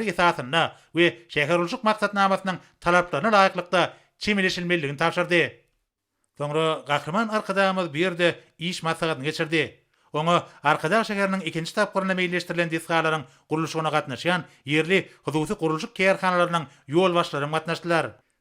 şertnamasynyň esasynda we şäherurluş maksatnamasynyň talaplaryna laýyklykda çemeleşilmelidigini tabşyrdy. Soňra Gahryman Arkadagymyz bu ýerde iş maslahatyny geçirdi. Oňa Arkadag şäheriniň ikinji tapgyrynda meýilleşdirilen desgalaryň gurluşygyna gatnaşýan ýerli hususy gurluşyk kärhanalarynyň ýolbaşçylary hem gatnaşdylar.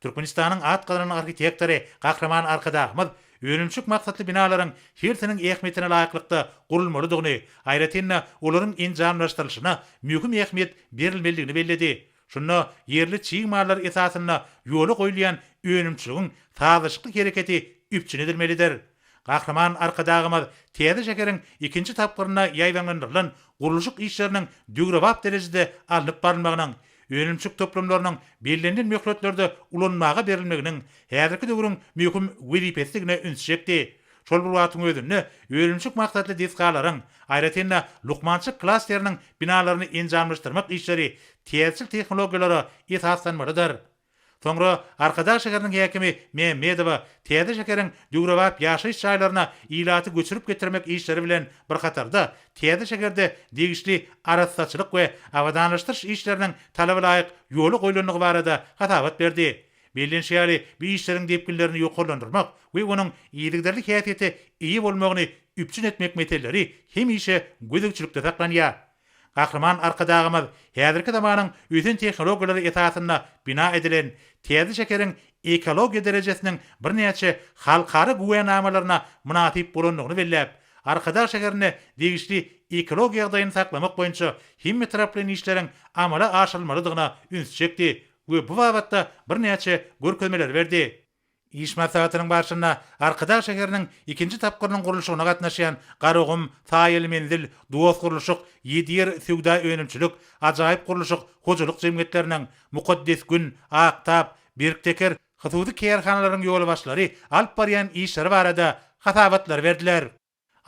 Türkmenistanyň at gazanan arhitektory Gahryman Arkadagymyz önümçilik maksatly binalaryň hersiniň ähmiýetine laýyklykda gurulmalydygyny, aýratyn-da, olaryň enjamlaşdyrylyşyna möhüm ähmiýet berilmelidigini belledi. Şunda ýerli çig mallar esasynda ýola goýulýan önümçiligiň sazlaşykly hereketi üpjün edilmelidir. Gahryman Arkadagymyz täze şäheriň ikinji tapgyrynda ýaýbaňlandyrylan gurluşyk işleriniň döwrebap derejede alnyp barylmagynyň, önümçilik toplumlarynyň bellenilen möhletlerde ulanmaga berilmeginiň häzirki döwrüň möhüm wezipesidigine üns çekdi. Şol bir wagtyň özünde önümçilik maksatly desgalaryň, aýratyn-da, lukmançylyk klasteriniň binalaryny enjamlaşdyrmak işleri täzeçil tehnologiýalara esaslanmalydyr. Soňra Arkadag şäheriniň häkimi Mämmedowa täze şäheriň döwrebap ýaşaýyş jaýlaryna ilaty göçürip getirmek işleri bilen bir hatarda, täze şäherde degişli arassaçylyk we abadanlaşdyryş işleriniň talabalaýyk ýola goýlandygy barada hasabat berdi. Bellenişi ýaly, bu işleriň depginlerini ýokarlandyrmak we onuň yzygiderli häsiýete eýe bolmagyny üpjün etmek meseleleri hemişe gözegçilikde saklanýar. Gahryman Arkadagymyz häzirki zamanyň ösen tehnologiýalary esasynda bina edilen täze şäheriň ekologiýa derejesiniň birnäçe halkara güwänamalaryna mynasyp bolandygyny belläp, Arkadag şäherinde degişli ekologiýa ýagdaýyny saklamak boýunça hemmetaraplaýyn işleriň amala aşyrylmalydygyna üns çekdi we bu babatda birnäçe görkezmeleri berdi. Iş maslahatynyň barşynda Arkadag şäheriniň ikinji tapgyrynyň gurluşygyna gatnaşýan Garagum, Saýaly menzil, Dost gurluşyk, Ýedi ýer söwda önümçilik, Ajaýyp gurluşyk hojalyk jemgyýetleriniň, Mukaddes gün, Ak tap, Berk teker hususy kärhanalaryň ýolbaşçylary alyp barýan işleri barada hasabatlary berdiler.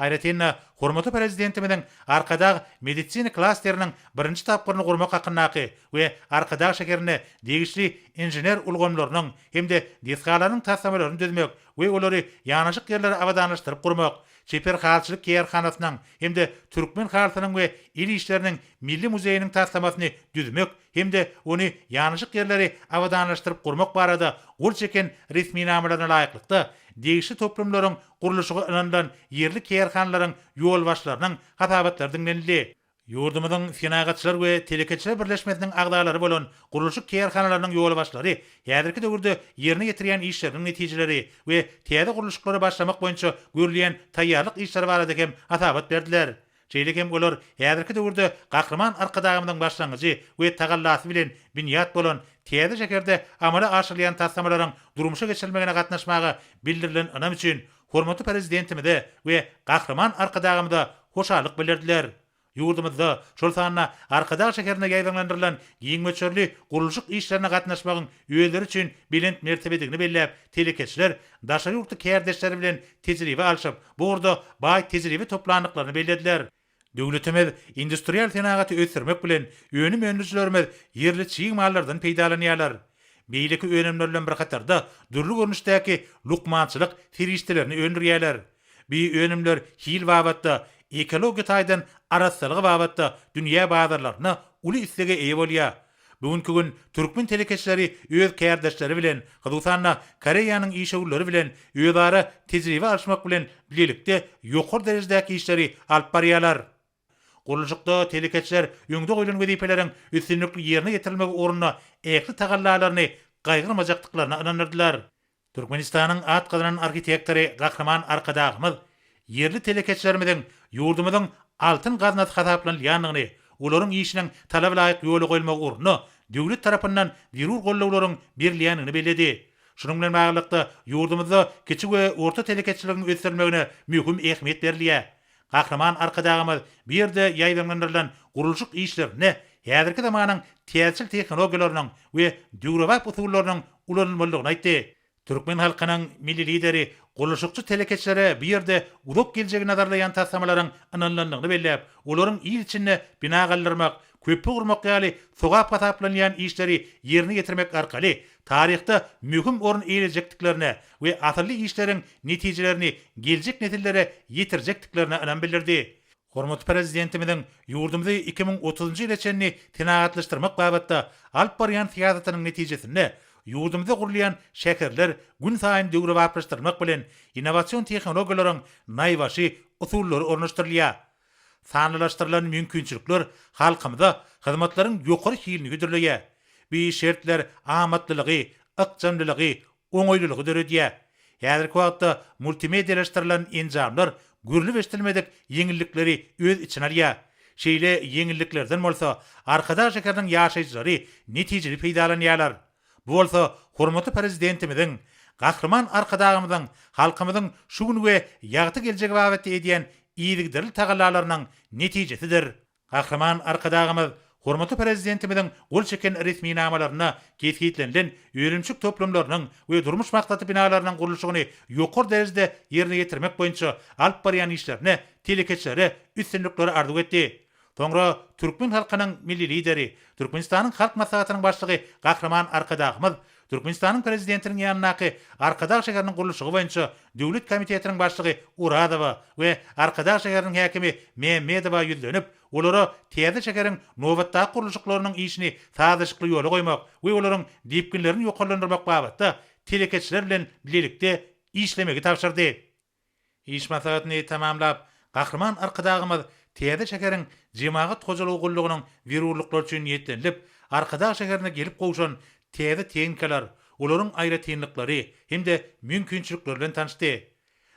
Aýratyn-da, hormatly Prezidentimiziň Arkadag medisina klasteriniň birinji tapgyryny gurmak hakyndaky we Arkadag şäherinde degişli inžener ulgamlarynyň hem-de desgalarynyň taslamalaryny düzmek we olary ýanaşyk ýerlere abadanlaşdyryp gurmak, Çeper halyçylyk kärhanasynyň hem-de Türkmen halysynyň we el işleriniň milli muzeýiniň taslamasyny düzmek hem-de ony ýanaşyk ýerleri abadanlaşdyryp gurmak barada gol çeken resminamalaryna laýyklykda, degişli toplumlaryň gurluşygy ynanylan ýerli kärhanalaryň ýolbaşçylarynyň hasabatlary diňlenildi. Ýurdumyzyň Senagatçylar we telekeçiler birleşmesiniň agzalary bolan gurluşyk kärhanalarynyň ýolbaşçylary häzirki döwürde ýerine ýetirýän işleriniň netijeleri we täze gurluşyklary başlamak boýunça görülýän taýýarlyk işleri barada hem hasabat berdiler. Şeýle hem olar häzirki döwürde Gahryman Arkadagymyzyň başlangyjy we tagallasy bilen binýat bolan täze şäherde amala aşyrylýan taslamalaryň durmuşa geçirilmegine gatnaşmaga bildirilen ynam üçin hormatly Prezidentimize we Gahryman Arkadagymyza hoşallyk bildirdiler. Ýurdumyzda, şol sanda Arkadag şäherinde ýaýbaňlandyrylan giň möçberli gurluşyk işlerine gatnaşmagyň özleri üçin belent mertebedigini belläp, telekeçiler daşary ýurtly kärdeşleri bilen tejribe alşyp, bu ugurda baý tejribe toplandyklaryny bellediler. Döwletimiz industrial senagaty ösdürmek bilen, önüm öndürijilerimiz ýerli çig mallardan peýdalanýarlar. Beýleki önümler bilen bir hatarda, dürli görnüşdäki lukmançylyk serişdelerini öndürýärler. Bu önümler hil babatda, ekologiýa taýdan arassalygy babatda dünýä bazarlarynda uly islege eýe bolýar. Bu günki gün türkmen telekeçileri öz kärdeşleri bilen, hususan-da, Koreýanyň işewürleri bilen özara tejribe alyşmak bilen bilelikde ýokary derejedäki işleri alyp barýarlar. Gurluşykda telekeçiler öňde goýlan wezipeleriň üstünlikli ýerine ýetirilmegi ugrunda ähli tagallalaryny gaýgyrmajakdyklaryna ynandyrdylar. Türkmenistanyň at gazanan arhitektory Gahryman Arkadagymyz ýerli telekeçilerimiziň ýurdumyzyň altyn gaznasy hasaplanylýandygyny, olaryň işiniň talaba laýyk ýola goýulmagy ugrunda döwlet tarapyndan zerur goldawlaryň berilýändigini belledi. Şunuň bilen baglylykda, ýurdumyzda kiçi we orta telekeçiligiň ösdürilmegine möhüm ähmiýet berilýär. Gahryman Arkadagymyz bu ýerde ýaýbaňlandyrylan gurluşyk işlerinde häzirki zamanyň täjirçilik tehnologiýalarynyň we döwrebap usullarynyň ulanylmalydygyny aýtdy. Türkmen halkynyň Milli Lideri gurluşykçy telekeçilere bu ýerde uzak geljegi nazarlaýan taslamalaryň ynanylandygyny belläp, olaryň il içinde bina galdyrmak, köpri gurmak ýaly sogap hasaplanylýan işleri ýerine ýetirmek arkaly taryhda möhüm orun eýelejekdiklerine we asylly işleriň netijelerini geljek nesillere ýetirjekdiklerine ynam bildirdi. Hormatly Prezidentimiziň ýurdumyzy iki müň otuzynjy ýyla çenli senagatlaşdyrmak babatda alyp barýan syýasatynyň netijesinde ýurdumyzda gurulýan şäherler gün saýyn döwrebaplaşdyrylmak bilen, innowasion tehnologiýalaryň naýbaşy usullary ornaşdyrylýar. Sanlylaşdyrylan mümkinçilikler halkymyza hyzmatlaryň ýokary hilini hödürleýär. Bu şertler amatlylygy, ykjamlylygy, oňaýlylygy döredýär. Häzirki wagtda multimedialaşdyrylan enjamlar görlüp-eşidilmedik ýeňillikleri öz içine alýar. Şeýle ýeňilliklerden bolsa Arkadag şäheriniň ýaşaýjylary netijeli peýdalanýarlar. Bu bolsa hormatly Prezidentimiziň Gahryman Arkadagymyzyň halkymyzyň şu gün we ýagty geljegi babatda edýän yzygiderli tagallalarynyň netijesidir. Gahryman Arkadagymyz hormatly Prezidentimiziň gol çeken resminamalarynda kesgitlenilen önümçilik toplumlarynyň we durmuş maksatly binalarynyň gurluşygyny ýokary derejede ýerine ýetirmek boýunça alyp barýan işlerine telekeçilere üstünlikleri arzuw etdi. Soňra türkmen halkynyň Milli Lideri, Türkmenistanyň Halk Maslahatynyň Başlygy Gahryman Arkadagymyz Türkmenistanyň Prezidentiniň ýanyndaky Arkadag şäheriniň gurluşygy boýunça döwlet komitetiniň başlygy Orazowa we Arkadag şäheriniň häkimi Mämmedowa ýüzlenip, olara täze şäheriň nobatdaky gurluşyklarynyň işini sazlaşykly ýola goýmak we olaryň depginlerini ýokarlandyrmak babatda telekeçiler bilen bilelikde işlemegi tabşyrdy. Iş maslahatyny tamamlap, Gahryman Arkadagymyz täze şäheriň Jemagat hojalygy gullugynyň zerurlyklary üçin niýetlenilip, Arkadag şäherine gelip gowşan täze tehnikalar, olaryň aýratynlyklary hem-de mümkinçilikleri bilen tanyşdy.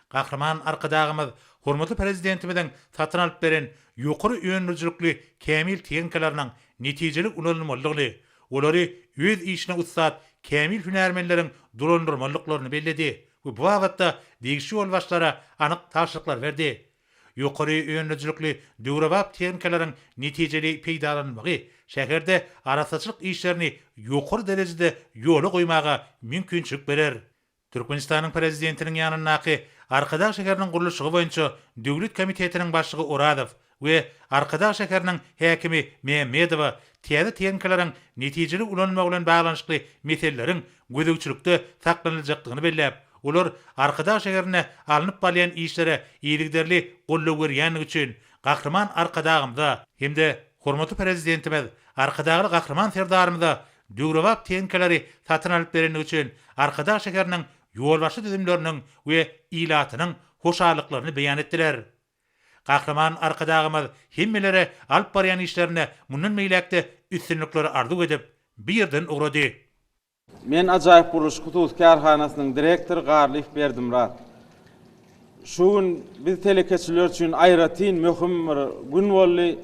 Gahryman Arkadagymyz hormatly Prezidentimiziň satyn alyp beren ýokary öndürijilikli kämil tehnikalarynyň netijeli ulanylmalydygyny, olary öz işine ussat kämil hünärmenleriň dolandyrmalydyklaryny belledi. we bu babatda degişli ýolbaşçylara anyk tabşyryklar berdi. Ýokary önlejilikli döwrebap tehnikalaryň netijeli peýdalanylmagy şäherde arassaçylyk işlerini ýokary derejede ýola goýmaga mümkinçilik berer. Türkmenistanyň Prezidentiniň ýanyndaky Arkadag şäheriniň gurluşygy boýunça döwlet komitetiniň başlygy Orazow we Arkadag şäheriniň häkimi Mämmedowa täze tehnikalaryň netijeli ulanylmagy bilen baglanyşykly meseleleriň gözegçilikde saklanyljakdygyny belläp, olar Arkadag şäherinde alnyp barylýan işlere yzygiderli goldaw berýändigi üçin Gahryman Arkadagymyza hem-de hormatly Prezidentimiz Arkadagly Gahryman Serdarymyza döwrebap tehnikalary satyn alyp berendigi üçin Arkadag şäheriniň ýolbaşçy düzümleriniň we ilatynyň hoşallyklaryny beýan etdiler. Gahryman Arkadagymyz hemmelere alyp barýan işlerinde mundan beýläk-de üstünlikleri arzuw edip, bu ýerden ugrady. Men Ajaýyp gurluş hususy kärhanasynyň direktory Garlyýew Berdimyrat. Şu gün biz telekeçiler üçin aýratyn möhüm bir gün boldy.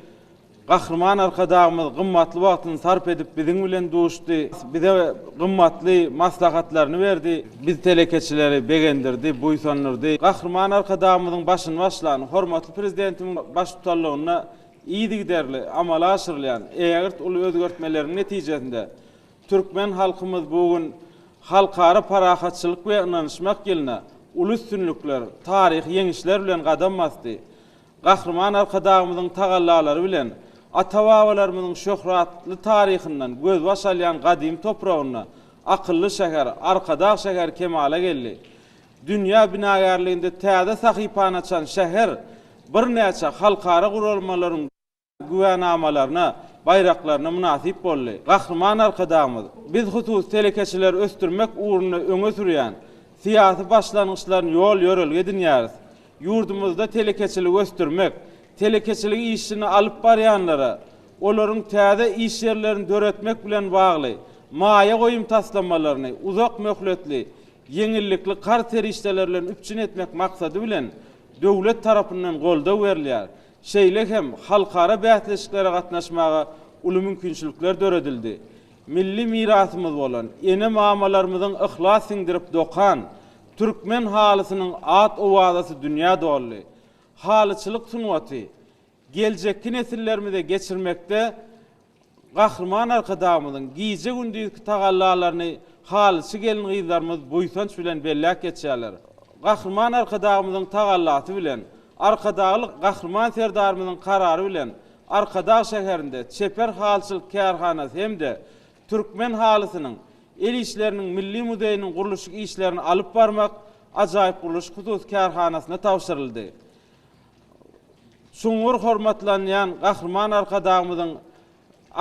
Gahryman Arkadagymyz gymmatly wagtyny sarp edip biziň bilen duşdy, bize gymmatly maslahatlaryny berdi. Biz telekeçileri begendirdi, buýsandyrdy. Gahryman Arkadagymyzyň başyny başlan, hormatly Prezidentimiň baştutanlygynda yzygiderli amala aşyrylýan ägirt uly özgertmeleriň netijesinde türkmen halkymyz bu gün Halkara parahatçylyk we ynanyşmak ýylyna uly üstünlikler, taryhy ýeňişler bilen gadam basdy. Gahryman Arkadagymyzyň tagallalary bilen ata-babalarymyzyň şöhratly taryhyndan gözbaş alýan gadymy topragynda akylly şäher, Arkadag şäheri kemala geldi. Dünýä binagärliginde täze sahypany açan şäher birnäçe halkara guralmalaryň, güwänamalaryna, baýraklaryna mynasyp boldy. Gahryman Arkadagymyz, Biz hususy telekeçileri ösdürmek ugrunda öňe sürýän syýasy başlangyçlaryny ýol-ýörelge edinýäris. Ýurdumyzda telekeçiligi ösdürmek, telekeçilik işini alyp barýanlara olaryň täze iş ýerlerini döretmek bilen bagly maýa goýum taslamalaryny uzak möhletli ýeňillikli karz serişdeleri bilen üpjün etmek maksady bilen, döwlet tarapyndan goldaw berilýär. Şeýle hem halkara bäsleşiklere gatnaşmaga uly mümkinçilikler döredildi. Milli mirasymyz bolan ene-mamalarymyzyň yhlas siňdirip dokan türkmen halysynyň at-owazasy dünýä doldy. Halyçylyk sungaty geljekki nesillerimize geçirmekde Gahryman Arkadagymyzyň gije-gündizki tagallalaryny halyçy gelin-gyzlarymyz buýsanç bilen belläp geçýärler. Gahryman Arkadagymyzyň tagallasy bilen, Arkadagly Gahryman Serdarymyzyň karary bilen Arkadag şäherinde çeper halyçylyk kärhanasy hem-de Türkmen halysynyň el işleriniň milli muzeýiniň gurluşyk işlerini alyp barmak ajaýyp gurluşyk hususy kärhanasyna tabşyryldy. Çuňňur hormatlanýan Gahryman Arkadagymyzyň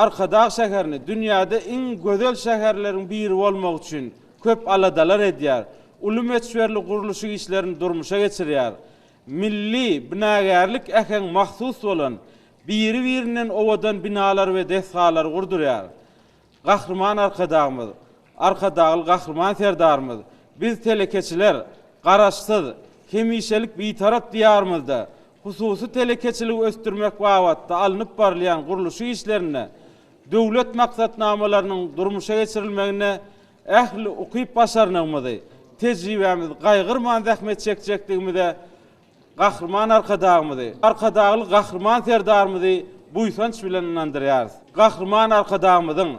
Arkadag şäherini dünýäde iň gözel şäherleriň biri bolmagy üçin köp aladalar edýär, uly möçberli gurluşyk işlerini durmuşa geçirýär. Milli binagärlik äheň mahsus bolan, biri-birinden owadan binalar we desgalary gurdurýar. Gahryman Arkadagymyz, Arkadagly Gahryman Serdarymyz, Biz telekeçiler Garaşsyz, hemişelik Bitarap Diýarymyzda hususy telekeçiligi ösdürmek babatda alnyp barylýan gurluşyk işlerinde, döwlet maksatnamalarynyň durmuşa geçirilmeginde ähli ukyp-başarnygymyzy, tejribämizi gaýgyrman zähmet çekjekdigimize Gahryman Arkadagymyzy, Arkadagly Gahryman Serdarymyzy buýsanç bilen ynandyrýarys. Gahryman Arkadagymyzyň,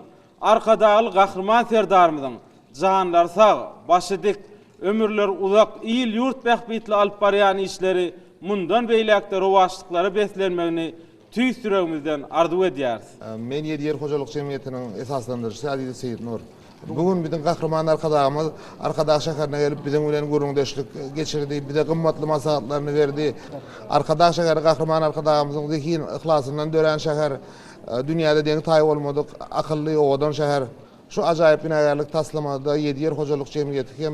Arkadagly Gahryman Serdarymyzyň janlary sag, başy dik, ömürleri uzak, il-ýurt bähbitli alyp barýan işleri mundan beýläk-de rowaçlyklara beslenmegini Tüýs ýüregimizden arzuw edýäris. Men Ýedi ýer hojalyk jemgyýetiniň esaslandyryjysy Azize Seýitnur. Bu gün biziň Gahryman Arkadagymyz Arkadag şäherine gelip, biziň bilen gürrüňdeşlik geçirdi, bize gymmatly maslahatlaryny berdi. Arkadag şäheri Gahryman Arkadagymyzyň zehin, yhlasyndan dörän şäher, dünýäde deňi-taýy bolmadyk akylly, owadan şäher. Şu ajaýyp binagärlik taslamada Ýedi ýer hojalyk jemgyýeti hem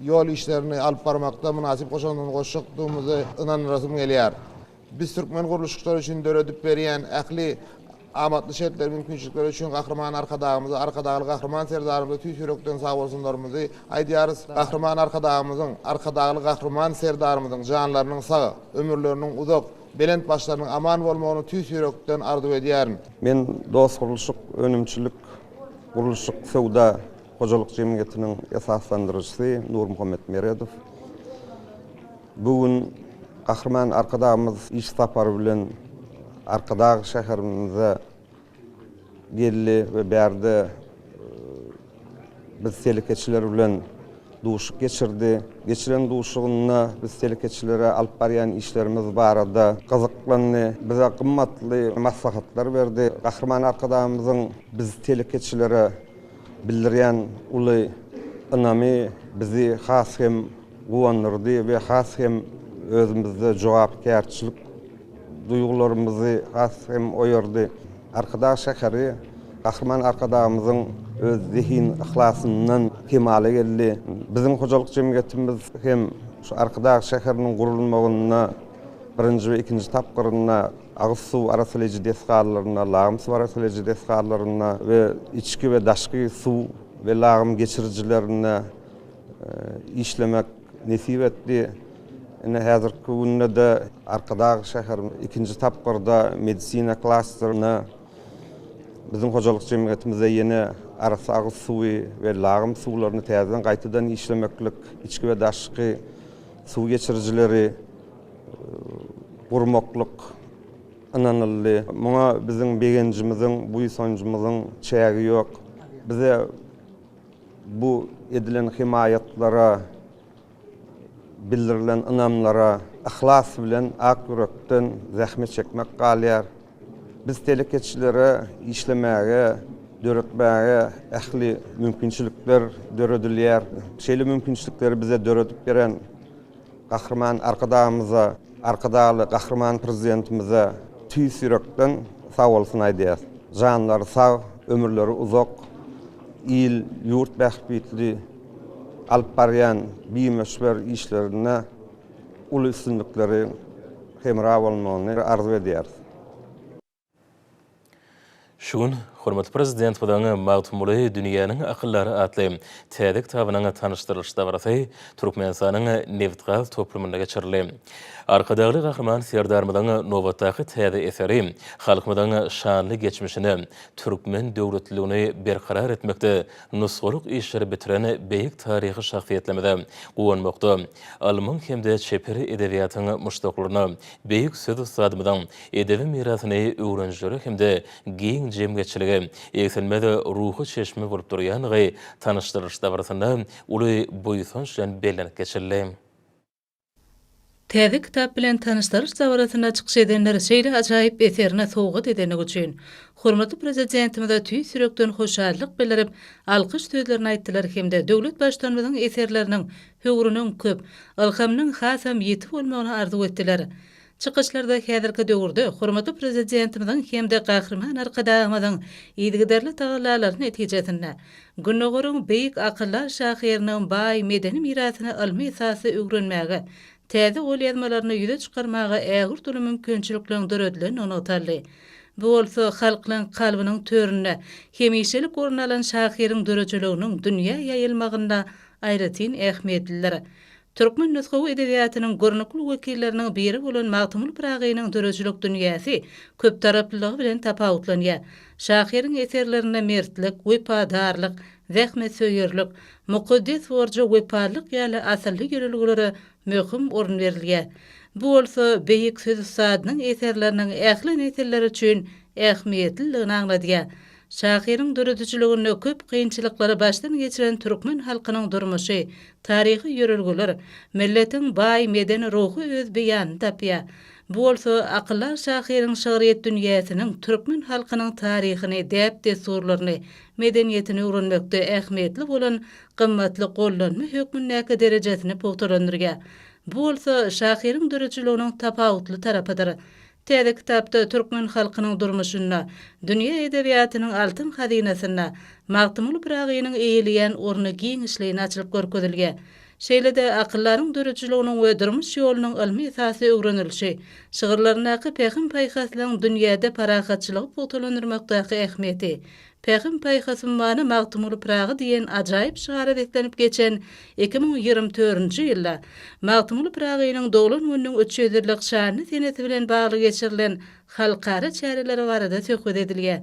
ýol işlerini alyp barmakda mynasyp goşandyny goşjakdygymyza ynanasym gelýär. Biz türkmen gurluşykçylary üçin döredip berýän ähli amatly şertler, mümkinçilikler üçin Gahryman Arkadagymyza, Arkadagly Gahryman Serdarymyza tüýs ýürekden sagbolsunlarymyzy aýdýarys. Gahryman Arkadagymyzyň, Arkadagly Gahryman Serdarymyzyň janlarynyň sag, ömürleriniň uzak, belent başlarynyň aman bolmagyny tüýs ýürekden arzuw edýärin. Men Dostgurluşyk önümçilik gurluşyk söwda hojalyk jemgyýetiniň esaslandyryjysy Nurmuhammet Meredow. Bu gün Gahryman Arkadagymyz iş sapary bilen Arkadag şäherimize geldi we bärde biz telekeçiler bilen duşuk geçirdi. Geçiren duşugynda biz telekeçilere alyp barýan işlerimiz barada gyzyklandy, bize gymmatly maslahatlar berdi. Gahryman Arkadagymyzyň biz telekeçilere bildirýän uly ynamy bizi has hem guwandyrdy we has hem özümizde jogapkärçilik duýgularymyzy has hem oýardy. Arkadag şäheri Gahryman Arkadagymyzyň öz zehin-yhlasyndan kemala geldi. Biziň hojalyk jemgyýetimiz hem şu Arkadag şäheriniň gurulmagynda birinji we ikinji tapgyrynda agyz suw arassalyjy desgalarynda, lagym suw arassalyjy desgalarynda we içki we daşky suw we lagym geçirijilerinde, işlemek nesip etdi. Ine, häzirki günde-de Arkadag şäheriniň ikinji tapgyrda medisina klasteryna biziň hojalyk jemgyýetimizde ýene arassa agyz suwy we lagym suwlaryny täzeden gaýtadan işlemeklik içki we daşky suw geçirijileri gurmaklyk ynanyldy. Muňa biziň begenjimiziň, buýsanjymyzyň çägi ýok. Bize Bu edilen hymaýatlara, bildirilen ynamlara yhlas bilen, ak ýürekden zähmet çekmek galýar. Biz telekeçilere işlemäge, döretmäge ähli mümkinçilikler döredilýär. Şeýle mümkinçilikleri bize döredip beren Gahryman Arkadagymyza, Arkadagly Gahryman Prezidentimize tüýs ýürekden sag bolsun aýdýarys. Janlary sag, ömürleri uzak. il-ýurt bähbitli alyp barýan bimöçber işlerinde uly üstünlikleriň hemra bolmagyny arzuw edýäris. Şu gün hormatly Prezidentimiziň Magtymguly, dünýäniň akyldary atly täze kitabynyň tanyşdyrylyş dabarasy Türkmenistanyň nebitgaz toplumynda geçirildi. Arkadagly Gahryman Serdarymyzyň nobatdaky täze eseri halkymyzyň şanly geçmişine, türkmen döwletliligini berkarar etmekde nusgalyk işleri bitiren beýik taryhy şahsyýetlerimize guwanmakda, ylmyň hem-de çeper edebiýatyň muşdaklaryna beýik söz ussadymyzyň edebi mirasyny öwrenijilere hem-de giň jemgyýetçilige egsilmez ruhy çeşme bolup durýandygy tanyşdyrylyş dabarasynda uly buýsanç bilen bellenip geçildi. Täze kitap bilen tanyşdyryş dabarasynda çykyş edenler şeýle ajaýyp eserini sowgat edenligi üçin, hormatly Prezidentimize tüýs ýürekden hoşallyk bildirip, alkyş sözlerini aýtdylar hem-de döwlet Baştutanymyzyň eserleriniň höwrüniň köp, ylhamynyň hasam ýiti bolmagyny arzuw etdiler. Çykyşlarda häzirki döwürde hormatly Prezidentimiziň hem-de Gahryman Arkadagymyzyň yzygiderli tagallalary netijesinde, Gündogaryň beýik akyldar şahyrynyň baý medeni mirasyny ylmy esasda öwrenmäge, täze golýazmalaryny ýüze çykarmaga ägirt uly mümkinçilikleriň döredilendigi nygtaldy. Bu bolsa halklaryň kalbynyň töründe hemişelik orun alan şahyryň döredijiliginiň dünýä ýaýylmagynda aýratyn ähmiýetlidir. Türkmen nusgawy edebiýatynyň görnükli wekilleriniň biri bolan Magtymguly Pyragynyň döredijilik dünýäsi köptaraplylygy bilen tapawutlanýar. Şahyryň eserlerinde mertlik, wepadarlyk, zähmetsöýerlik, mukaddes borja wepalylyk ýaly asylly ýörelgelere möhüm orun berilýär. Bu bolsa beýik söz ussadynyň eserleriniň ähli nesiller üçin ähmiýetliligini aňladýar. Şahyryň döredijiliginde köp kynçylyklary başdan geçiren türkmen halkynyň durmuşy, taryhy ýörelgeler, milletiň baý medeni-ruhy öz beýanyny tapýar. Bu bolsa akyldar şahyryň şygryýet dünýäsiniň türkmen halkynyň taryhyny, däp-dessurlaryny, medeniýetini öwrenmekde ähmiýetli bolan gymmatly gollanma hökmündäki derejesini pugtalandyrýar. Bu bolsa şahyryň döredijiliginiň tapawutly tarapydyr. Täze kitapda türkmen halkynyň durmuşynda, dünýä edebiýatynyň altyn hazynasynda Magtymguly Pyragynyň eýeleýän orny giňişleýin açylyp görkezilýär. Şeýle-de, akyldaryň döredijiliginiň we durmuş ýolunyň ylmy esasy öwrenilişi, şygyrlaryndaky pähim-paýhaslygyň dünýäde parahatçylygy pugtalandyrmakdaky ähmiýeti, Pähim-paýhasym many Magtymguly Pyragy diýen ajaýyp şygara beslenip geçen iki müň ýigrimi törünji ýylda, Magtymguly Pyragynyň doglan gününiň üç ýüz ýyllyk şanly senesi bilen bagly geçirilen halkara çäreleri barada söhbet edilýär.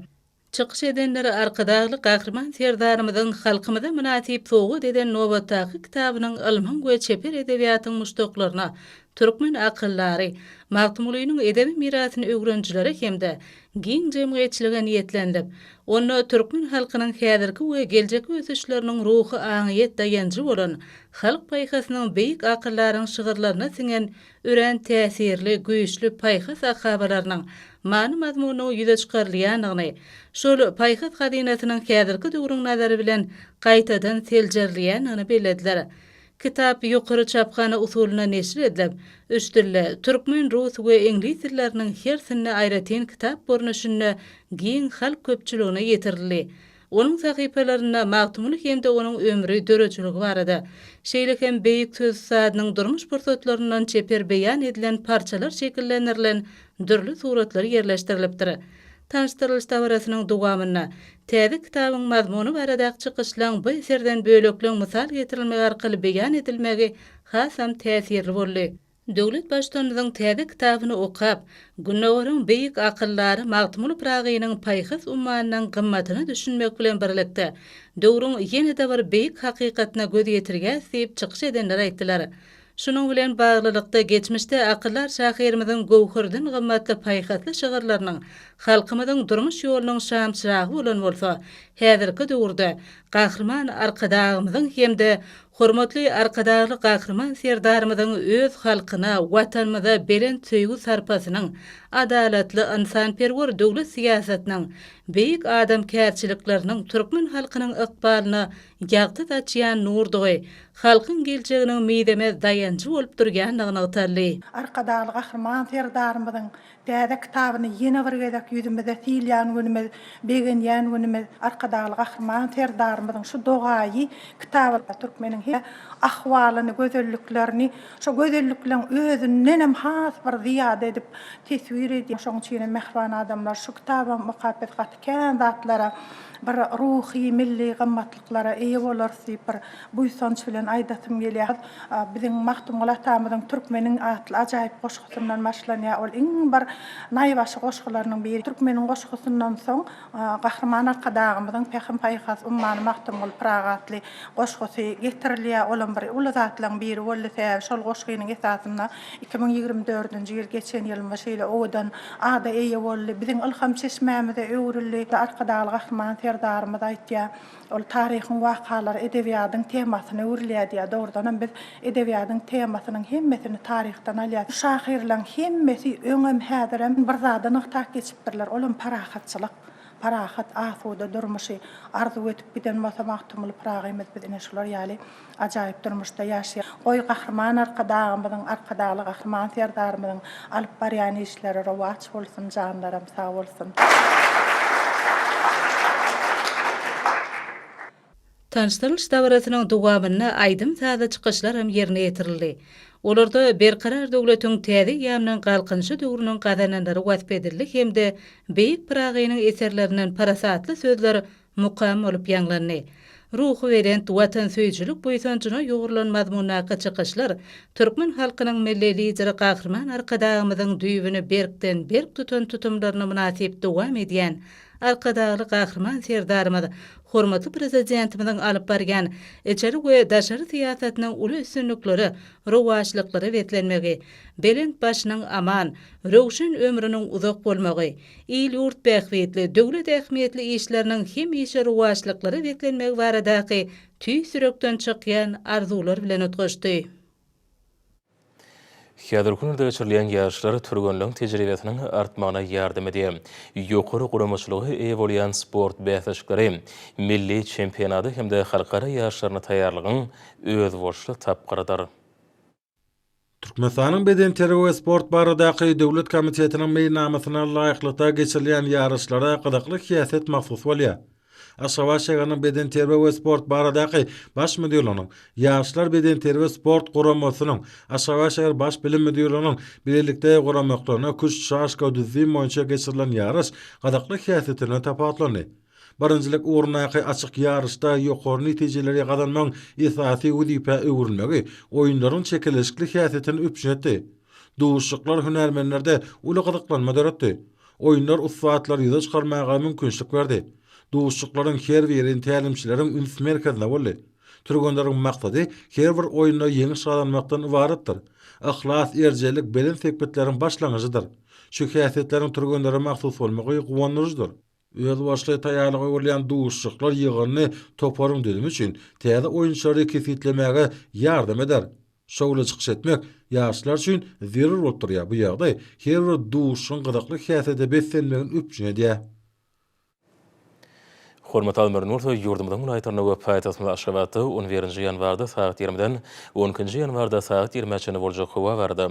Çykyş edenler Arkadagly Gahryman Serdarymyzyň halkymyza mynasyp sowgat eden nobatdaky kitabynyň ylmyň we çeper edebiýatyň muşdaklaryna, türkmen akyldary, Magtymgulynyň edebi mirasyny öwrenijilere hem-de giň jemgyýetçilige niýetlendik. Onda türkmen halkynyň häzirki we geljekki ösüşleriniň ruhy aňyýet daýanjy bolan, halk paýhasynyň beýik akyldaryň şygyrlaryna siňen örän täsirli, güýçli paýhas akabalarynyň many-mazmunynyň ýüze çykarylýandygyny, şol paýhas hazynasynyň häzirki döwrüň nazary bilen gaýtadan seljerilýändigini bellediler. Kitap ýokary çaphana usulynda neşir edilip, üç dilde, türkmen, rus we iňlis dilleriniň hersinde aýratyn kitap görnüşinde giň halk köpçüligine ýetirildi. Onuň sahypalarynda Magtymguly hem-de onuň ömri, döredijiligi barada, şeýle hem beýik söz ussadynyň durmuş pursatlaryndan çeper beýan edilen parçalar şekillendirilen dürli suratlar ýerleşdirilipdir. Tanyşdyrylyş dabarasynyň dowamynda, täze kitabyň mazmuny baradaky çykyşlaryň bu eserden bölekleň mysal getirilmegi arkaly beýan edilmegi hasam täsirli boldy. Döwlet Baştutanymyzyň täze kitabyny okap, Gündogaryň beýik akyldary Magtymguly Pyragynyň paýhas ummanynyň gymmatyna düşünmek bilen birlikde, döwrüň ýene-de bir beýik hakykatyna göz ýetirýäris diýip çykyş edenler aýtdylar. Şunuň bilen baglylykda, geçmişde akyldar şahyrymyzyň göwherden gymmatly paýhasly şygyrlarynyň halkymyzyň durmuş ýolunyň şamçyragy bolan bolsa, häzirki döwürde Gahryman Arkadagymyzyň hem-de hormatly Arkadagly Gahryman Serdarymyzyň öz halkyna, Watanymyza belent söýgi-sarpasynyň, adalatly, ynsanperwer döwlet syýasatynyň, beýik adamkärçilikleriniň türkmen halkynyň ykbalyna ýagty saçýan nurdygy, halkyň geljeginiň mizemez daýanjy bolup durýandygy nygtaldy. Arkadagly Gahryman Serdarymyzyň täze kitabyny ýene bir gezek ýüzümize sylýan günümiz, begenýän günümiz. Arkadagly Gahryman Serdarymyzyň şu dogaýy kitabyna türkmeniň her ahwalyny, gözelliklerini şo gözellikleň özündenem has bir zyýada edip teswir edýär. Şonuň üçinem, mähriban adamlar, şu kitabam okap biz gaty. Kän zatlara, bir ruhy, milli gymmatlyklara eýe bolarys diýip, bir buýsanç bilen aýdasym gelýär. Biziň Magtymguly atamyzyň Türkmeniň atly ajaýyp goşgusyndan başlanýar. Ol iň bir naýbaşy goşgularynyň biri. Türkmeniň goşgusyndan soň Gahryman Arkadagymyzyň Pähim-paýhas ummany Magtymguly Pyragy atly goşgusy getirilýär. Olam bir uly zatlaryň biri boldy. Sebäbi şol goşgynyň esasynda Iki müň ýigrimi dördünji ýyl geçen ýylymyz şeýle owadan ada eýe boldy, biziň ylham çeşmämize öwrüldi. Arkadagly Gahryman Serdarymyz aýtýar, Ol taryhyň wakalary edebiýadyň temasyna öwrülýär diýýär. Dogrudanam, biz edebiýadyň temasynyň hemmesini taryhdan alýarys. Şahyrlaň hemmesi öňem, häzirem bir zady nygtap geçipdirler, ol hem parahatçylyk, parahat, asuda durmuşy arzuw edip giden bolsa Magtymguly Pyragymyz biz ine şular ýaly Ajaýyp durmuşda ýaşaýan goý Gahryman Arkadagymyzyň, Arkadagly Gahryman Serdarymyzyň alyp barýan işleri rowaç bolsun, janlaram sag bolsun! Tanyşdyrylyş dabarasynyň dowamynda aýdym-sazly çykyşlaram ýerine ýetirildi. Olarda Berkarar döwletiň täze eýýamynyň Galkynyşy döwrüniň gazananlary wasp edildi hem-de beýik Pyragynyň eserlerinden parasatly sözler mukam bolup ýaňlandy. Ruhubelent watansöýüjilik buýsanjyna ýugrulan mazmundaky çykyşlar türkmen halkynyň Milli Lideri Gahryman Arkadagymyzyň düýbüni berkden-berk tutan tutumlaryna mynasyp dowam edýän Arkadagly Gahryman Serdarymyz, hormatly Prezidentimiziň alyp barýan içeri we daşary syýasatynyň uly üstünliklere, rowaçlyklara beslenmegi, belent başynyň aman, röwşen ömrüniň uzak bolmagy, il-ýurt bähbitli, döwlet ähmiýetli işleriniň hemişe rowaçlyklara beslenmegi baradaky tüýs ýürekden çykýan arzuwlar bilen utgaşdy. Häzirki günlerde geçirilýän ýaryşlar türgenleň tejribesiniň artmagyna ýardam edýär. Ýokary guramaçylyga eýe bolýan sport bäsleşikleri, milli çempionady hem-de halkara ýaryşlaryna taýýarlygyň özboluşly tapgyrydyr. Türkmenistanyň Bedenterbiýe we sport baradaky döwlet komitetiniň meýilnamasyna laýyklykda geçirilýän ýaryşlara gyzykly syýasat mahsus bolýar. Aşgabat şäheriniň Bedenterbiýe we sport baradaky Baş müdirliginiň, Ýaşlar bedenterbiýe-sport guramasynyň, Aşgabat şäher Baş bilim müdirliginiň bilelikde guramaklarynda küşt, şaşka, düzzim boýunça geçirilen ýaryş gyzykly syýasaty bilen tapawutlandy. Birinjilik ugrundaky açyk ýaryşda ýokary netijeleri gazanmagyň esasy wezipä öwrülmegi oýunlaryň çekeleşikli häsiýetini üpjün etdi. Duşuşyklar hünärmenlerde uly gyzyklanma döretdi. Oýunlar ussatlary ýüze çykarmaga mümkinçilik berdi. Duşuşyklaryň her biri tälimçileriň üns merkezinde boldy. Türgenleriň maksady her bir oýunda ýeňiş gazanmakdan ybaratdyr. Yhlas, erjellik belent sepgitleriň başlangyjydyr. Şu häsiýetleriň türgenlere mahsus bolmagy guwandyryjydyr. Özbaşly taýýarlyga görülýän duşuşyklar ýygyndy toparyň düzümi üçin täze oýunçylary kesgitlemäge ýardam eder. Şowly çykyş etmek ýaşlar üçin zerur bolup durýar, bu ýagdaý her bir duşuşygyň gyzykly häsiýete beslenmegini üpjün edýär. Hormatly Admir Nursoý ýurdumyzyň welaýatlarynda we paýtagtymyz Aşgabatda on birinji ýanwarda sagat ýigrimiden on ikinji ýanwarda sagat ýigrimä çenli boljak howa barada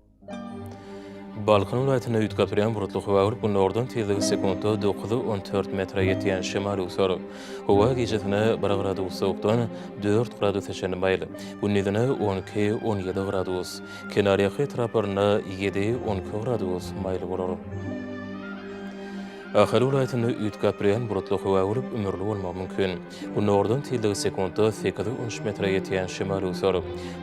Balkan welaýatynda üýtgäpturýan bulutly howa görüp, günordan tizligi sekuntda dokuz, on dört metre ýetýän şemal öwser. Howa gijesine bir gradus sowukdan dört gradusa çenli maýyl, gündizine on iki, on ýedi gradus, kenarýaka etraplarynda ýedi, on iki gradus maýyl bolar. Ahal welaýatynda üýtgäpturýan bulutly howa görüp, ümürli bolmagy mümkin. Gündogardan tizligi sekuntda sekiz ulus metre ýetýän şemal öwser.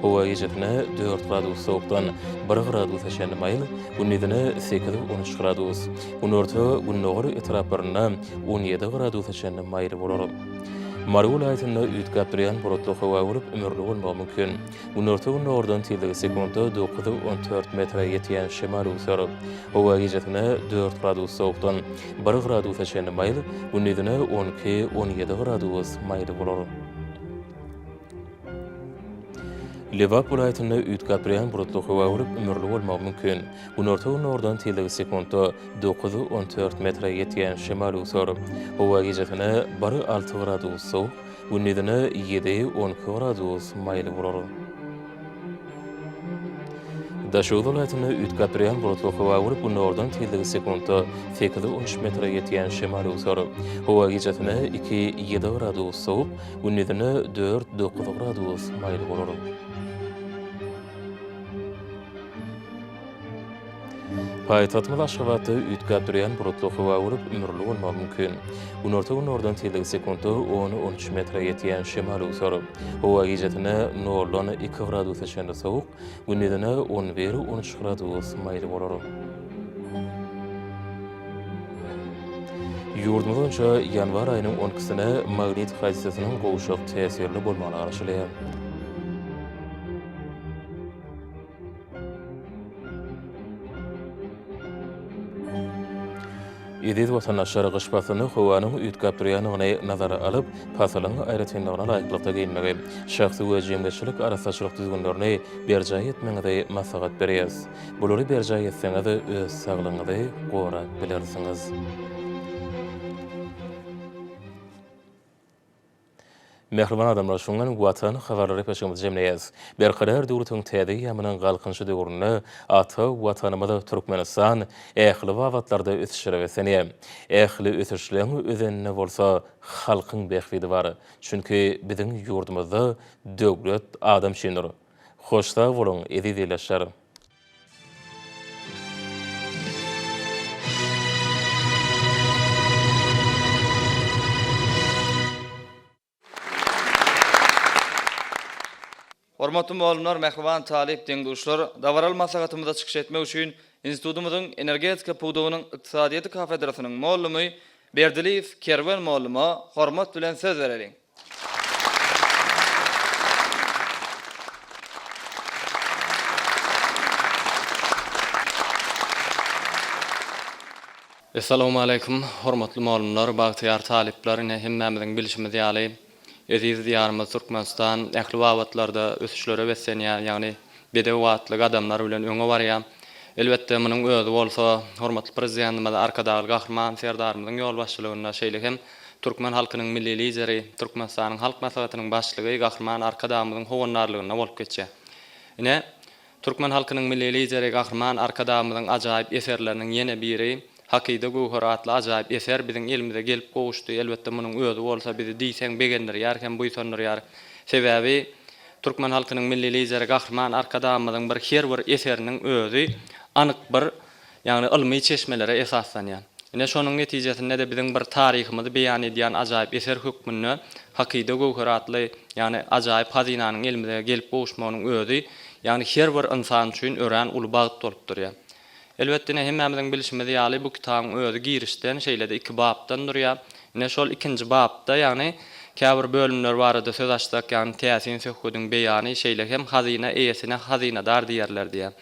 Howa gijesine dört gradus sowukdan bir gradusa çenli maýyl, gündizine sekiz-on üç gradus, günorta, gündogar etraplarynda on ýedi gradusa çenli maýyl bolar. Mary welaýatynda üýtgäp durýan bulutly howa bolup, ümürli bolmagy mümkin. Günorta-gündogardan tizligi sekuntda dokuz on dört metre ýetýän şemal öwser. Howa gijesine dört gradus sowukdan bir gradusa çenli maýyl, gündizine on iki on ýedi gradus maýyl bolar. Lebap welaýatynda üýtgäpdurýan bulutly howa bolup, ümürli bolmagy mümkin. Günorta-gündogardan tizligi sekuntda dokuz on dört metre ýetýän şemal öwser. Howa gijesine bir alty gradus sowuk, Gündizine ýedi, on iki gradus maýyl bolar. Daşoguz welaýatynda üýtgäp durýan bulutly howa bolup, günordan tizligi sekuntda sekiz-on üç metre ýetýän şemal öwser. Howa gijesine iki, ýedi gradus sowup, gündizine dört, dokuz gradus maýyl bolar. Paýtagtymyz Aşgabatda üýtgäp durýan bulutly howa bolup, ümürli bolmagy mümkin. Günorta-gündogardan tizligi sekuntda on, on üç metre ýetýän şemal öwser. Howa gijesine noldan iki gradusa çenli sowuk, gündizine on bir, on üç gradus maýyl bolar. Ýurdumyz boýunça ýanwar aýynyň on ikisine magnit hadysasynyň gowşak täsirli bolmagyny garaşylýar. Eziz watandaşlar, gyş paslyny howanyň üýtgäp durýandygyny nazara alyp, pasylyň aýratynlygyna laýyklykda geýinmegi, şahsy we jemgyýetçilik arassaçylyk düzgünlerini berjaý etmegiňizi maslahat berýäris. Bulary berjaý etseňiz, öz saglygyňyzy gorap bilersiňiz. Mähriban adamlar şuň bilen Watan habarlary epeşigimizi jemleýäs. Berkarar döwletiň täze eýýamynyň Galkynyşy döwründe ata Watanymyz Türkmenistan ähli babatlarda ösüşlere beslenýär. Ähli ösüşleň özeninde bolsa halkyň bähbidi bar. Çünki biziň ýurdumyzda döwlet adam üçindir. Hoş sag boluň, eziz ildeşler! Hormatly mugallymlar, mähriban talyp deň-duşlar! Dabaraly maslahatymyzda çykyş etmek üçin institutymyzyň Energetika pudagynyň ykdysadyýeti kafedrasynyň mugallamy Berdiliýew Kerwen mugallyma hormat bilen söz bereliň. Essalawmaleýkum, hormatly mugallymlar, bagtyýar talyplar! Ine, hemmämiziň bilşimiz ýaly, eziz Diýarymyz Türkmenistan ähli babatlarda ösüşlere beslenýär, ýagny bedew atly gadamlar bilen öňe barýar. Elbetde, munuň özi bolsa, hormatly Prezidentimiz Arkadagly Gahryman Serdarymyzyň ýolbaşçylygynda, şeýle hem, Türkmen halkynyň Milli Lideri, Türkmenistanyň Halk Maslahatynyň Başlygy Gahryman Arkadagymyzyň howandarlygynda bolup geçýär. Ine, türkmen halkynyň Milli Lideri Gahryman Arkadagymyzyň ajaýyp eserleriniň ýene biri, Hakyda göwher atly ajaýyp eser biziň elimize gelip gowuşdy, elbetde munuň özi bolsa bizi diýseň begendirýär hem buýsandyrýar. Sebäbi türkmen halkynyň Milli Lideri Gahryman Arkadagymyzyň bir her bir eseriniň özi anyk bir ýagny ylmy çeşmelere esaslanýar. Ine, şonuň netijesinde-de biziň bir taryhymyzy beýan edýän ajaýyp eser hökmünde Hakyda göwheri atly, ýagny ajaýyp hazynanyň elimize gelip gowuşmagynyň özi, ýagny her bir ynsan üçin örän uly bagt bolup durýar. Elbet, ine, hemmämiziň bilşimiz ýaly, bu kitabyň özi girişden, şeýle-de iki bapdan durýar. Ine, şol ikinji bapda, ýagny käbir bölümler barada söz açsak, ýagny täsin söhbediň beýany, şeýle hem hazyna eýesine hazynadar diýerler diýýär.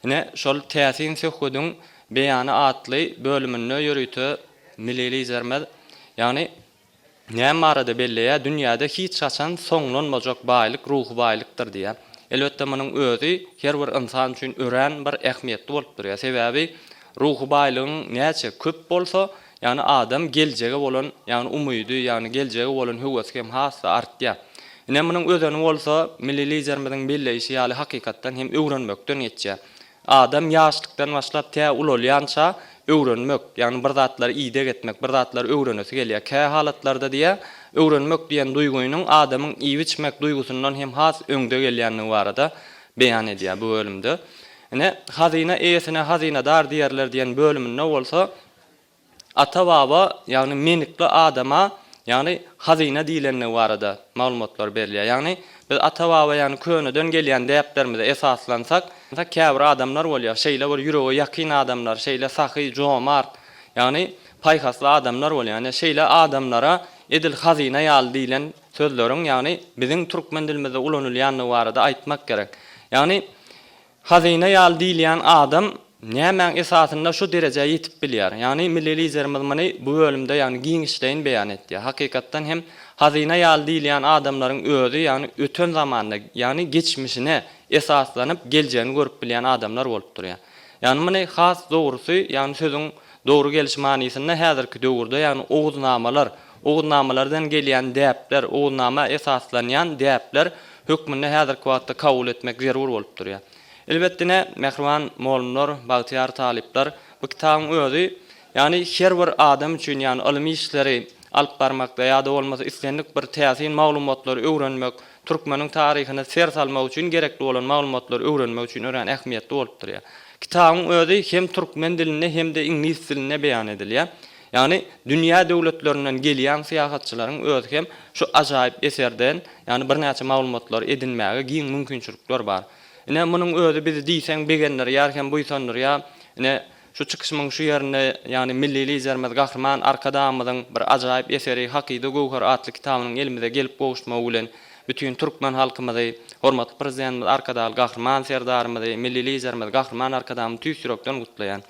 Ine, şol täsin söhbediň beýany atly bölüminde ýörite Milli Liderimiz, ýagny, näme barada belleýär, dünýäde hiç haçan soňlanmajak baýlyk ruhy baýlykdyr diýýär. Elbetde, munuň özi her bir ynsan üçin örän bir ähmiýetli bolup durýar. Sebäbi Ruhy baýlygyň näçe köp bolsa, ýagny adam geljege bolan, ýagny umydy, ýagny geljege bolan höwesi hem has-da artýar. Ine, munuň özeni bolsa, milli Liderimiziň belleýşi ýaly hakykatdan hem öwrenmekden geçýär. Adam ýaşlykdan başlap tä ulalýança öwrenmek, ýagny bir zatlary ideg etmek, bir zatlary öwrenesi gelýär. Kä halatlarda diýýär, öwrenmek diýen duýgynyň adamyň iýip-içmek duýgusyndan hem has öňde gelýändigi barada beýan edýär bu bölümde. Ine, hazyna eýesine hazynadar diýerler diýen bölüminde bolsa ata-baba, ýagny menikli adama, ýagny hazyna diýlendigi barada maglumatlar berilýär. Ýagny biz ata-baba, ýagny köneden gelýän däplerimize esaslansak, käbir adamlar bolýar, şeýle bir ýürege ýakyn adamlar, şeýle sahy, jomart, ýagny paýhasly adamlar bolýar. Ine, şeýle adamlara edil hazyna ýaly diýlen sözleriň, ýagny biziň türkmen dilimizde ulanylýandygy barada aýtmak gerek. Ýagny Hazyna ýaly diýilýän adam nämäň esasynda şu derejä ýetip bilýär? Ýagny milli Liderimiz muny bu bölümde ýagny giňişleýin beýan etdi. Hakykatdan hem hazyna ýaly diýilýän adamlaryň özi ýagny öten zamanda ýagny geçmişine esaslanyp geljegini görüp bilýän adamlar bolup durýar. Ýagny muny has dogrusy ýagny sözüň dogry geliş manysynda häzirki döwürde ýagny Oguznamalar, Ugnamalardan gelýän däpler, ugnama esaslanýan däpler hökmünde häzirki wagtda kabul etmek zerur bolup durýar. Elbetde ine, mähriban molumlar, bagtyýar talyplar, bu kitabyň özi, ýagny her bir adam üçin, ýagny ylmy işleri alyp barmakda ýa-da bolmasa islendik bir täsin maglumatlary öwrenmek, türkmeniň taryhyna ser salmak üçin gerekli bolan maglumatlary öwrenmek üçin örän ähmiýetli bolup durýar. Kitabyň özi hem türkmen dilinde hem-de iňlis dilinde beýan edilýär. Ýagny dünýä döwletlerinden gelýän syýahatçylaryň özi hem şu ajaýyp eserden, ýagny birnäçe maglumatlary edinmäge giň mümkinçilikler bar. Ine, munuň özi bizi diýseň begendirýär hem buýsandyrýar. Ine, şu çykyşymyň şu ýerinde, ýagny Milli Liderimiz Gahryman Arkadagymyzyň bir ajaýyp eseri Hakyda göwher atly kitabynyň elimize gelip gowuşmagy bilen bütin türkmen halkymyzy, hormatly Prezidentimiz Arkadagly Gahryman Serdarymyzy, Milli Liderimiz Gahryman Arkadagymyzy tüýs ýürekden gutlaýan.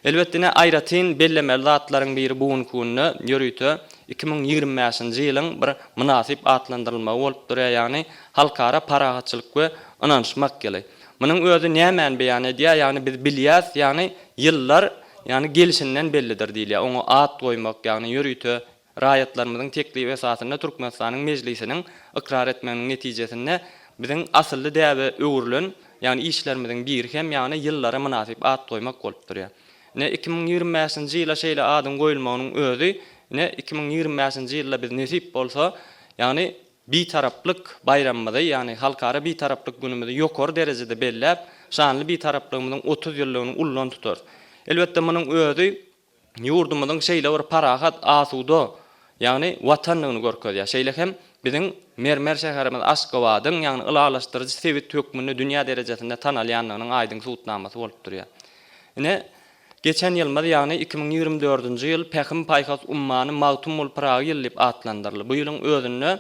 Elbetdine aýratyn bellemeli zatlaryň biri bu günki günde ýörite iki müň ýigrimi bäşinji ýylyň bir mynasyp atlandyrylmagy bolup durýar, ýagny Halkara parahatçylyk we ynanyşmak ýyly. Munuň özi nämäni beýan edýär, ýagny biz bilýäs, ýagny ýyllar, ýagny gelşinden bellidir diýilýär, oňa at goýmak, ýagny ýörite Raýatlarymyzyň teklibi esasynda Türkmenistanyň Mejlisiniň ykrar etmeginiň netijesinde biziň asylly däbe öwrülen, ýagny işlerimiziň biri hem ýagny ýyllara mynasyp at goýmak bolup durýar. Ine iki müň ýigrimi bäşinji ýyla şeýle adyň goýulmagynyň özi ine iki müň ýigrimi bäşinji ýylda biz nesip bolsa ýagny Bitaraplyk baýramymyzy ýagny Halkara Bitaraplyk günümizi ýokary derejede belläp, şanly Bitaraplygymyzyň otuz ýyllygyny ullan tutarys. Elbetde munuň özi ýurdumyzyň şeýle bir parahat, asuda, ýagny Watandygyny görkezýär. Şeýle hem biziň mermer şäherimiz Aşgabadyň, ýagny ylalaşdyryjy sebit hökmünde dünýä derejesinde tanalýandygynyň aýdyň subutnamasy bolup durýar. Ine, geçen ýylymyz, ýagny iki müň ýigrimi dördünji ýyl Pähim-paýhas ummany Magtymguly Pyragy ýyly diýip atlandyryldy. Bu ýylyň özünde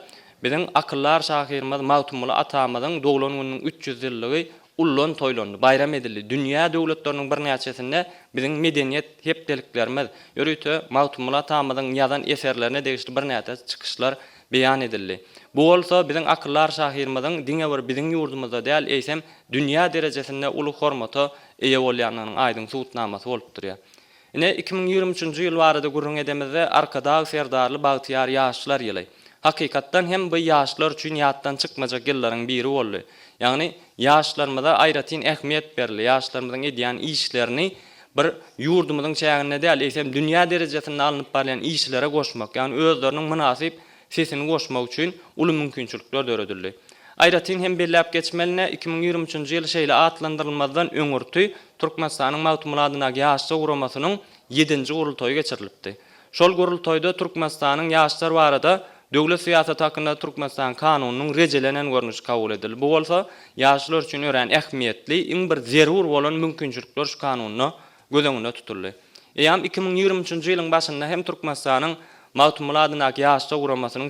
biziň akyldar şahyrymyz Magtymguly atamyzyň doglan gününiň üç ýüz ýyllygy Ullan toýlandy, baýram edildi. Dünýä döwletleriniň birnäçesinde biziň medeniýet hepdeliklerimiz, ýörite Magtymguly atamyzyň ýazan eserlerine degişli birnäçe çykyşlar beýan edildi. Bu bolsa biziň akyldar şahyrymyzyň diňe bir biziň ýurdumyzda däl, eýsem, dünýä derejesinde uly hormata eýe bolýandygynyň aýdyň subutnamasy bolup durýar. Ine, iki müň ýigrimi üçünji ýyl barada gürrüň edemizde, Arkadag Serdarly bagtyýar ýaşlar ýyly, hakykatdan hem by ýaşlar üçin ýatdan çykmajak ýyllaryň biri boldy. Ýagny, ýaşlarymyza aýratyn ähmiýet berildi, ýaşlarymyzyň edýän işlerini bir ýurdumyzyň çäginde däl, eýsem dünýä derejesinde alnyp barylýan işlere goşmak, ýagny özleriniň mynasyp sesini goşmak üçin uly mümkinçilikler döredildi. Aýratyn hem belläp geçmelini, iki müň ýigrimi üçünji ýyl şeýle atlandyrylmazdan öňürti Türkmenistanyň Magtymguly adyndaky Ýaşlar guramasynyň ýedinji gurultaýy geçirilipdi. Şol gurultaýda Türkmenistanyň Ýaşlar barada döwlet syýasaty hakynda Türkmenistan Kanunynyň rejelenen görnüşi kabul edildi. Bu bolsa ýaşlar üçin örän ähmiýetli, iň bir zerur bolan mümkinçilikler şu Kanunda göz öňünde tutuldy. Eýýäm iki müň ýigrimi üçünji ýylyň başynda hem Türkmenistanyň Magtymguly adyndaky Ýaşlar guramasynyň